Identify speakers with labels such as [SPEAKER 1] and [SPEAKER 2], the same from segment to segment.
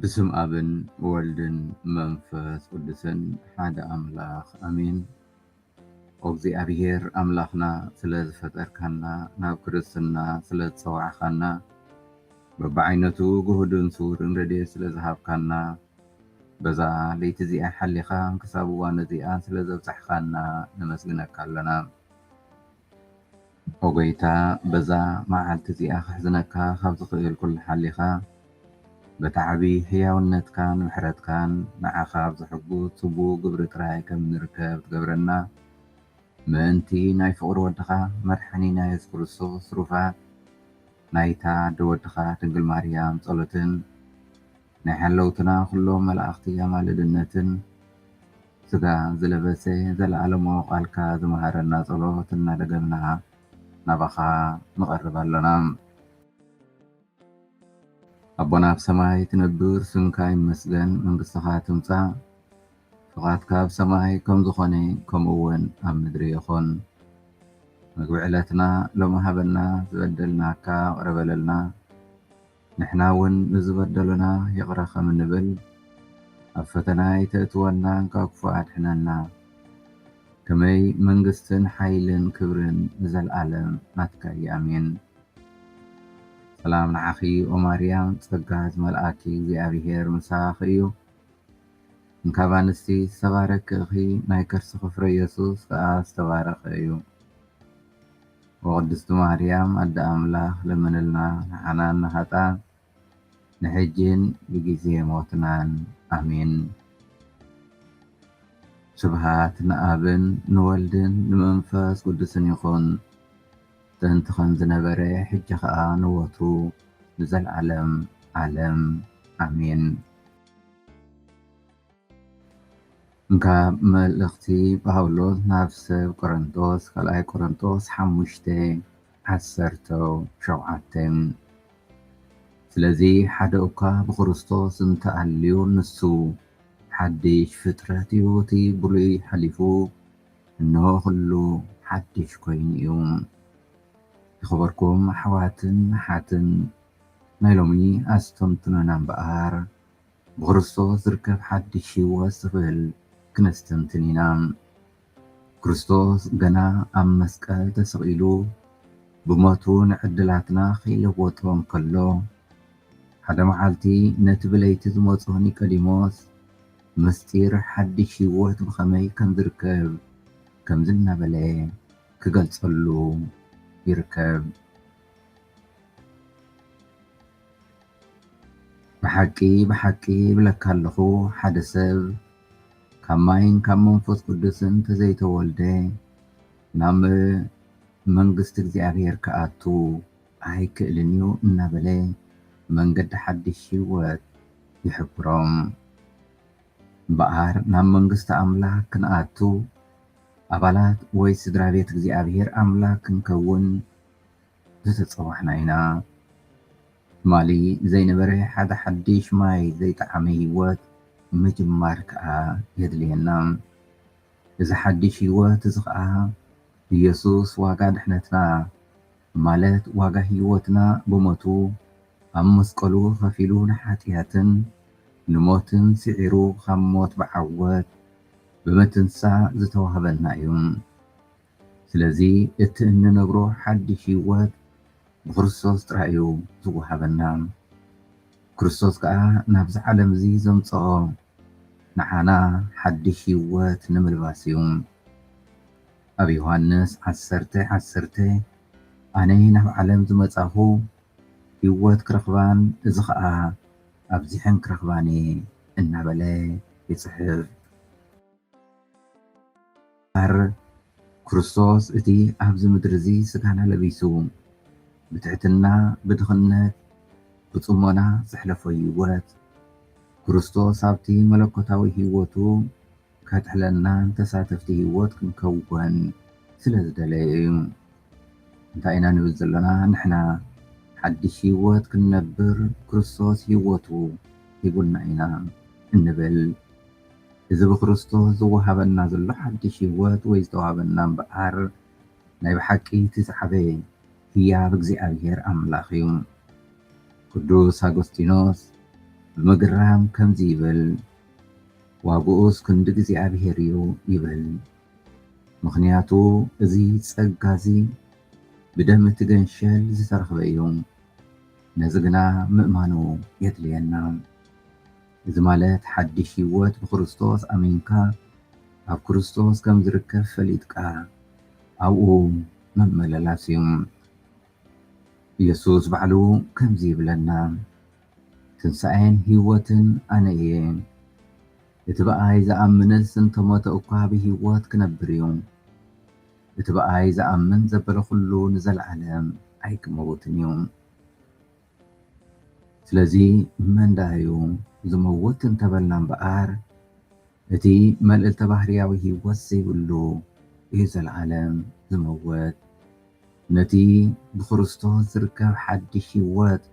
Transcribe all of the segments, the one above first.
[SPEAKER 1] ብስም ኣብን ወልድን መንፈስ ቅዱስን ሓደ ኣምላኽ ኣሜን። ኦግዚኣብሄር ኣምላኽና ስለ ዝፈጠርካና ናብ ክርስትና ስለ ዝጸዋዕካና በብዓይነቱ ግሁድን ስዉርን ረድኤት ስለ ዝሃብካና በዛ ለይቲ እዚኣ ሓሊኻ ክሳብ እዋን እዚኣ ስለ ዘብጻሕካና ነመስግነካ ኣሎና። ኦ ጎይታ በዛ መዓልቲ እዚኣ ከሕዝነካ ካብ ዝኽእል ኩሉ ሓሊኻ በቲ ዓቢ ሕያውነትካን ምሕረትካን ንዓኻ ኣብ ዘሕጉስ ጽቡቕ ግብሪ ጥራይ ከም እንርከብ ትገብረና ምእንቲ ናይ ፍቕሪ ወድኻ መድሓኒና የሱስ ክርስቶስ ትሩፋት ናይታ ኣደ ወድኻ ድንግል ማርያም ጸሎትን ናይ ሓለውትና ኩሎም መላእኽቲ ኣማልድነትን ስጋ ዝለበሰ ዘለዓለማዊ ቃልካ ዝመሃረና ጸሎት እናደገምና ናባኻ ንቐርብ ኣሎና። ኣቦና ኣብ ሰማይ ትነብር ስምካ ይመስገን መንግስትኻ ትምጻእ ፍቓድካ ኣብ ሰማይ ከም ዝኾነ ከምኡ ውን ኣብ ምድሪ ይኹን ምግቢ ዕለትና ሎሚ ሃበና ዝበደልናካ ቅረ በለልና ንሕና እውን ንዝበደሉና ይቕረ ከም እንብል፣ ኣብ ፈተና ኣይተእትወና ካብ ክፉእ ኣድሕነና። ከመይ መንግስትን ሓይልን ክብርን ንዘልኣለም ናትካ እዪ ኣሜን። ሰላም ንዓኺ ኦማርያም ጸጋ ዝመልኣኪ እግዚኣብሄር ምሳኺ እዩ እንካብ ኣንስቲ ዝተባረኪ እኺ ናይ ከርስኺ ፍረ የሱስ ከኣ ዝተባረኸ እዩ። ወቅድስቲ ማርያም ኣደ ኣምላክ ለምንልና ንዓናን ንሃጣን ንሕጂን ብጊዜ ሞትናን ኣሜን ስብሃት ንኣብን ንወልድን ንመንፈስ ቅዱስን ይኩን ጥንቲ ከምዝነበረ ሕጂ ከኣ ንወትሩ ንዘልዓለም ዓለም ኣሜን። ካብ መልእኽቲ ጳውሎስ ናብ ሰብ ቆረንቶስ ካልኣይ ቆረንቶስ ሓሙሽተ ዓሰርተ ሸውዓተ ስለዚ ሓደ እኳ ብክርስቶስ እንተ ኣልዩ ንሱ ሓድሽ ፍጥረት እዩ እቲ ብሉይ ሓሊፉ እንሆ ኩሉ ሓድሽ ኮይኑ እዩ። ዝኸበርኩም ኣሕዋትን ኣሓትን ናይ ሎሚ ኣስተንትኖና እምበኣር ብክርስቶስ ዝርከብ ሓድሽ ህይወት ዝኽእል ክነስተንትን ኢና። ክርስቶስ ገና ኣብ መስቀል ተሰቒሉ ብሞቱ ንዕድላትና ከይለወጦ እንከሎ፣ ሓደ መዓልቲ ነቲ ብለይቲ ዝመጾ ኒቀዲሞስ ምስጢር ሓድሽ ህይወት ብኸመይ ከም ዝርከብ ከምዚ እናበለ ክገልጸሉ ይርከብ። ብሓቂ ብሓቂ እብለካ ኣለኹ፣ ሓደ ሰብ ካብ ማይን ካብ መንፈስ ቅዱስን እንተ ዘይተወልደ፣ ናብ መንግስቲ እግዚኣብሄር ኪኣቱ ኣይክእልን እዩ እናበለ መንገዲ ሓድሽ ህይወት ይሕብሮም። እምበኣር ናብ መንግስቲ ኣምላኽ ክንኣቱ፣ ኣባላት ወይ ስድራ ቤት እግዚኣብሄር ኣምላኽ ክንከውን፣ ዝተጸዋሕና ኢና። ትማሊ ዘይነበረ ሓደ ሓዲሽ ማይ ዘይጠዓመ ህይወት ምጅማር ከኣ የድልየና። እዚ ሓዲሽ ህይወት እዚ ኸኣ ኢየሱስ ዋጋ ድሕነትና ማለት ዋጋ ህይወትና ብሞቱ ኣብ መስቀሉ ኸፊሉ ንሓጥያትን ንሞትን ስዒሩ ኻብ ሞት ብዓወት ብምትንሳእ ዝተዋህበና እዩ። ስለዚ እቲ እንነብሮ ሓድሽ ህይወት ብክርስቶስ ጥራይ እዩ ዝወሃበና። ክርስቶስ ከኣ ናብዚ ዓለም እዚ ዘምጽኦ ንዓና ሓድሽ ህይወት ንምልባስ እዩ። ኣብ ዮሃንስ ዓሰርተ ዓሰርተ ኣነ ናብ ዓለም ዝመጻኹ ህይወት ክረኽባን እዚ ኸኣ ኣብዚሐን ክረኽባን እየ እናበለ ይጽሕፍ። እምበኣር ክርስቶስ እቲ ኣብዚ ምድሪ እዚ ስጋና ለቢሱ ብትሕትና ብድኽነት ብጽሞና ዘሕለፎ ህይወት ክርስቶስ ኣብቲ መለኮታዊ ህይወቱ ከጥሕለናን ተሳተፍቲ ህይወት ክንከውን ስለ ዝደለየ እዩ። እንታይ ኢና ንብል ዘሎና? ንሕና ሓድሽ ህይወት ክንነብር ክርስቶስ ህይወቱ ሂቡና ኢና እንብል። እዚ ብክርስቶስ ዝወሃበና ዘሎ ሓድሽ ህይወት ወይ ዝተዋህበና እምበኣር ናይ ብሓቂ እቲ ዝዓበየ ህያብ እግዚኣብሔር ኣምላኽ እዩ። ቅዱስ ኣጎስጢኖስ ብምግራም ከምዚ ይብል ዋግኡስ ክንድ እግዚኣብሔር እዩ ይብል ምኽንያቱ እዚ ጸጋ እዚ ብደም እቲ ገንሸል ዝተረኽበ እዩ። ነዚ ግና ምእማኑ የድልየና። እዚ ማለት ሓድሽ ህይወት ብክርስቶስ ኣሚንካ ኣብ ክርስቶስ ከም ዝርከብ ፈሊጥካ ኣብኡ ምምልላስ እዩ። ኢየሱስ ባዕሉ ከምዚ ይብለና ትንሣኤን ህይወትን ኣነ እየ እቲ ብኣይ ዝኣምንስ እንተሞተ እኳ ብህይወት ክነብር እዩ እቲ ብኣይ ዝኣምን ዘበለ ኩሉ ንዘለዓለም ኣይክመውትን እዩ። ስለዚ መን ደኣ'ዩ ዝመውት እንተበልና እምበኣር፣ እቲ መልእልተ-ባህርያዊ ህይወት ዘይብሉ እዩ ዘለኣለም ዝመውት። ነቲ ብክርስቶስ ዝርከብ ሓድሽ ህይወት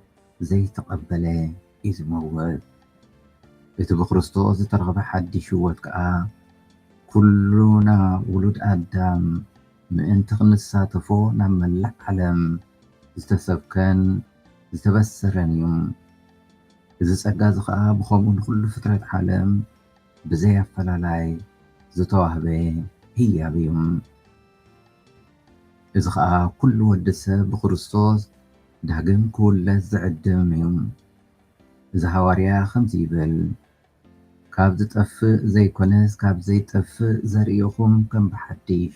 [SPEAKER 1] ዘይተቐበለ እዩ ዝመውት። እቲ ብክርስቶስ ዝተረኽበ ሓድሽ ህይወት ከኣ፣ ኩሉና ውሉድ ኣዳም ምእንቲ ክንሳተፎ ናብ መላእ ዓለም ዝተሰብከን ዝተበሰረን እዩ። እዚ ጸጋ'ዚ ከኣ ብኸምኡ ንኹሉ ፍጥረት ዓለም ብዘይ ኣፈላላይ ዝተዋህበ ህያብ እዩ። እዚ ከኣ ኩሉ ወዲ ሰብ ብክርስቶስ ዳግም ክውለድ ዝዕድም እዩ። እዚ ሃዋርያ ከምዚ ይብል፣ ካብ ዝጠፍእ ዘይኮነስ ካብ ዘይጠፍእ ዘርእኹም ከም ብሓድሽ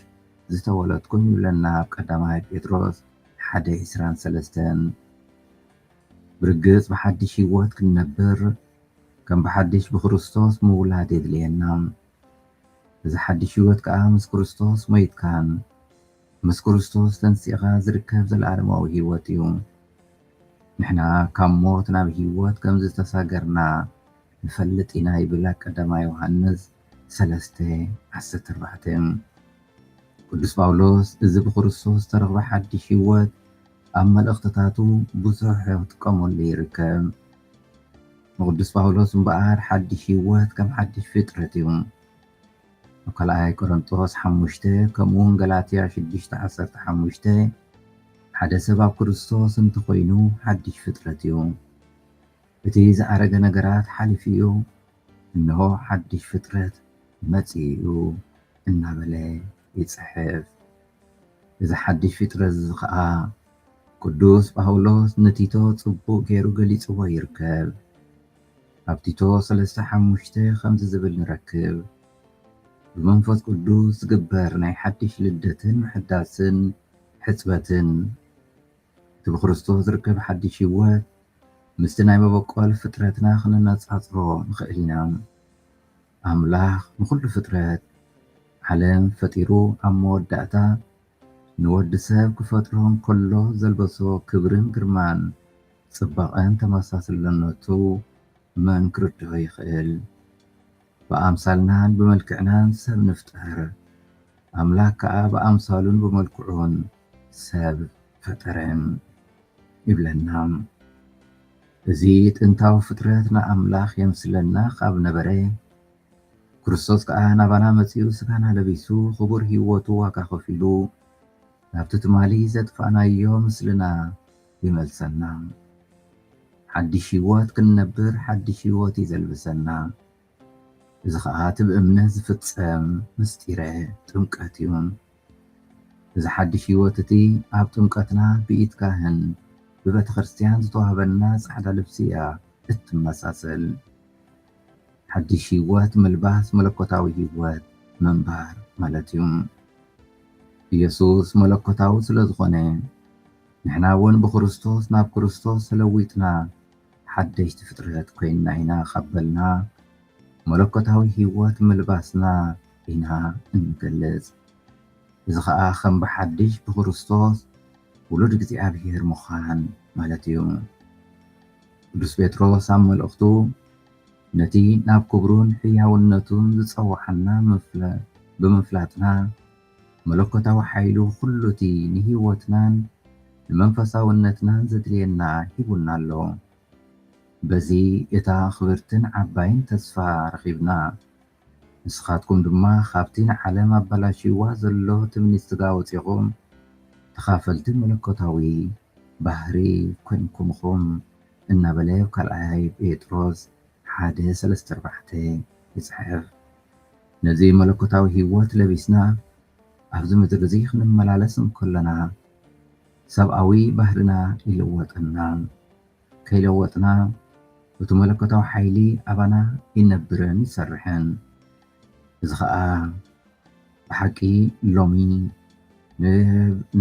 [SPEAKER 1] ዝተወለድኩም ይብለና ኣብ ቀዳማይ ጴጥሮስ ሓደ ዕስራን ሰለስተን። ብርግጽ ብሓድሽ ሕይወት ክንነብር ከም ብሓድሽ ብክርስቶስ ምውላድ የድልየና። እዚ ሓድሽ ሕይወት ከኣ ምስ ክርስቶስ ሞይትካን፣ ምስ ክርስቶስ ተንሲእካ ዝርከብ ዘለኣለማዊ ህይወት እዩ። ንሕና ካብ ሞት ናብ ህይወት ከም ዝተሳገርና ንፈልጥ ኢና ይብል ኣብ ቀዳማይ ዮሃንስ ሰለስተ ዓሰርተ ኣርባዕተ። ቅዱስ ጳውሎስ እዚ ብክርስቶስ ዝተረኽበ ሓድሽ ህይወት ኣብ መልእኽትታቱ ብዙሕ ክጥቀመሉ ይርከብ። ንቅዱስ ጳውሎስ እምበኣር ሓድሽ ህይወት ከም ሓድሽ ፍጥረት እዩ። ኣብ ካልኣይ ቆረንጦስ ሓሙሽተ ከምኡውን ገላትያ ሽዱሽተ ዓሰርተ ሓሙሽተ ሓደ ሰብ ኣብ ክርስቶስ እንተ ኾይኑ ሓድሽ ፍጥረት እዩ። እቲ ዝኣረገ ነገራት ሓሊፉ እዩ፣ እንሆ ሓድሽ ፍጥረት መጺኡ እዩ እናበለ ይጽሕፍ። እዚ ሓድሽ ፍጥረት እዚ ኸኣ ቅዱስ ጳውሎስ ንቲቶ ጽቡቕ ገይሩ ገሊጽዎ ይርከብ። ኣብ ቲቶ ሰለስተ ሓሙሽተ ኸምዚ ዝብል ንረክብ፣ ብመንፈስ ቅዱስ ዝግበር ናይ ሓድሽ ልደትን ምሕዳስን ሕጽበትን፣ እቲ ብክርስቶስ ዝርከብ ሓድሽ ህይወት ምስቲ ናይ መበቆል ፍጥረትና ኽነነጻጽሮ ንኽእል ኢና። ኣምላኽ ንዅሉ ፍጥረት ዓለም ፈጢሩ ኣብ መወዳእታ፣ ንወድሰብ ክፈጥሮ እንከሎ ዘልበሶ ክብርን ግርማን ጽባቐን ተመሳስልነቱ መን ክርድኦ ይኽእል? ብኣምሳልናን ብመልክዕናን ሰብ ንፍጠር፣ ኣምላክ ከኣ ብኣምሳሉን ብመልክዑን ሰብ ፈጠረ ይብለና። እዚ ጥንታዊ ፍጥረት ንኣምላኽ የምስለና ካብ ነበረ ክርስቶስ ከኣ ናባና መጺኡ ስጋና ለቢሱ ክቡር ሂወቱ ዋጋ ከፊሉ ናብቲ ትማሊ ዘጥፋእናዮ ምስልና ይመልሰና ሓዲሽ ሂወት ክንነብር ሓዲሽ ሂወት እዩ ዘልብሰና እዚ ከኣ እቲ ብእምነት ዝፍጸም ምስጢረ ጥምቀት እዩ እዚ ሓዲሽ ሂወት እቲ ኣብ ጥምቀትና ብኢድ ካህን ብቤተክርስትያን ዝተዋህበና ጻዕዳ ልብሲ እያ እትመሳሰል ሓድሽ ህይወት ምልባስ መለኮታዊ ህይወት ምንባር ማለት እዩ። ኢየሱስ መለኮታዊ ስለ ዝኾነ ንሕና እውን ብክርስቶስ ናብ ክርስቶስ ተለዊጥና ሓደሽቲ ፍጥረት ኮይንና ኢና ካብ በልና መለኮታዊ ህይወት ምልባስና ኢና እንገልጽ። እዚ ኸኣ ከም ብሓድሽ ብክርስቶስ ውሉድ እግዚኣብሔር ምዃን ማለት እዩ። ቅዱስ ጴጥሮስ ኣብ መልእኽቱ ነቲ ናብ ክብሩን ሕያውነቱን ዝጸውዓና ብምፍላጥና፣ መለኮታዊ ሓይሉ ኹሉ'ቲ ንህይወትናን ንመንፈሳውነትናን ዘድልየና ሂቡና ኣሎ። በዚ እታ ኽብርትን ዓባይን ተስፋ ረኺብና፣ ንስኻትኩም ድማ ካብቲ ንዓለም ኣበላሽይዋ ዘሎ ትምኒት ስጋ ወጺእኹም ተኻፈልቲ መለኮታዊ ባህሪ ኮይንኩም ኢኹም እናበለ ኣብ ካልኣይ ጴጥሮስ ሓደ ሰለስተ ኣርባዕተ ይጽሕፍ። ነዚ መለኮታዊ ህይወት ለቢስና ኣብዚ ምድሪ እዚ ክንመላለስ እንከሎና ሰብኣዊ ባህርና ይልወጠና። ከይለወጥና እቱ መለኮታዊ ሓይሊ ኣባና ይነብርን ይሰርሕን። እዚ ኸኣ ብሓቂ ሎሚ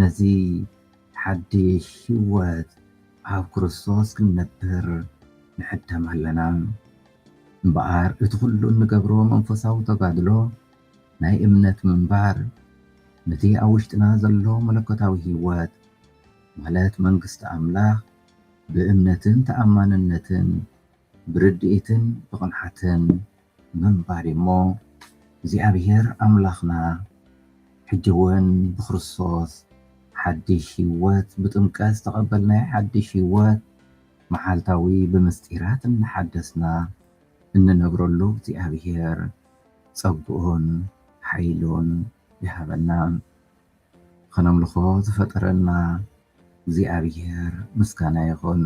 [SPEAKER 1] ነዚ ሓድሽ ህይወት ኣብ ክርስቶስ ክንነብር ንዕደም ኣለና። እምበኣር እቲ ኹሉ እንገብሮ መንፈሳዊ ተጋድሎ ናይ እምነት ምንባር ነቲ ኣብ ውሽጥና ዘሎ መለኮታዊ ህይወት ማለት መንግስቲ ኣምላኽ ብእምነትን ተኣማንነትን ብርድኢትን ብቕንዓትን ምንባር እዩ እሞ፣ እግዚኣብሄር ኣምላኽና ሕጂ እውን ብክርስቶስ ሓድሽ ህይወት ብጥምቀት ዝተቐበልናዮ ሓድሽ ህይወት መዓልታዊ ብምስጢራት እናሓደስና እንነብረሉ እግዚኣብሄር ጸግኡን ሓይሉን ይሃበና። ኸነምልኾ ዝፈጠረና እግዚኣብሔር ምስጋና ይኹን።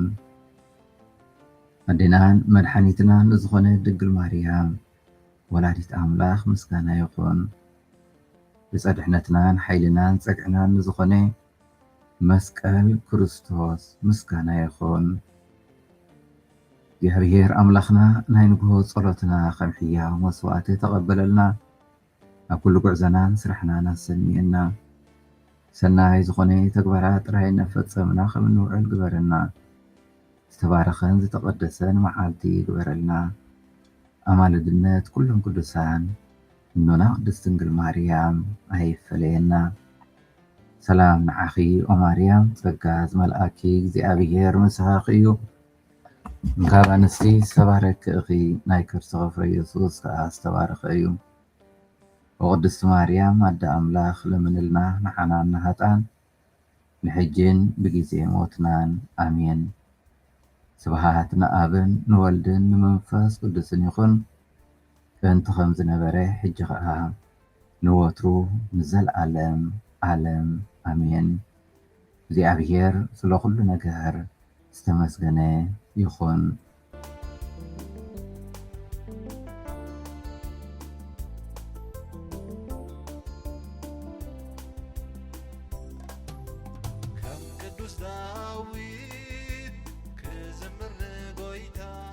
[SPEAKER 1] ኣዴናን መድሓኒትናን ንዝኾነት ድንግል ማርያም ወላዲት ኣምላኽ ምስጋና ይኹን። ዕፀ ድሕነትናን ሓይልናን ፀግዕናን ንዝኾነ መስቀል ክርስቶስ ምስጋና ይኹን። እግዚኣብሔር ኣምላኽና ናይ ንግሆ ፀሎትና ከም ሕያው መስዋእቲ ተቐበለልና። ኣብ ኩሉ ጉዕዘናን ስራሕናን ኣሰንየና ሰናይ ዝኾነ ተግባራት ጥራይ እናፈጸምና ከም እንውዕል ግበረና ዝተባረኸን ዝተቐደሰን መዓልቲ ግበረልና ኣማልድነት ኩሎም ቅዱሳን እኖና ቅድስት ድንግል ማርያም ኣይፈለየና ሰላም ንዓኺ ኦማርያም ጸጋ ዝመልኣኪ እግዚኣብሔር ምሳኺ እዩ ካብ ኣንስቲ ዝተባረኪ እኺ ናይ ከርስኺ ፍረ የሱስ ከኣ ዝተባረኸ እዩ ኦ ቅድስቲ ማርያም ኣደ ኣምላኽ ለምንልና ንዓናን ንሃጣን ንሕጂን ብጊዜ ሞትናን ኣሜን ስብሃት ንኣብን ንወልድን ንመንፈስ ቅዱስን ይኹን ጥንቲ ከም ዝነበረ ሕጂ ከኣ ንወትሩ ንዘልኣለም ኣለም ኣሜን እግዚኣብሔር ስለ ኩሉ ነገር ዝተመስገነ ይኩን።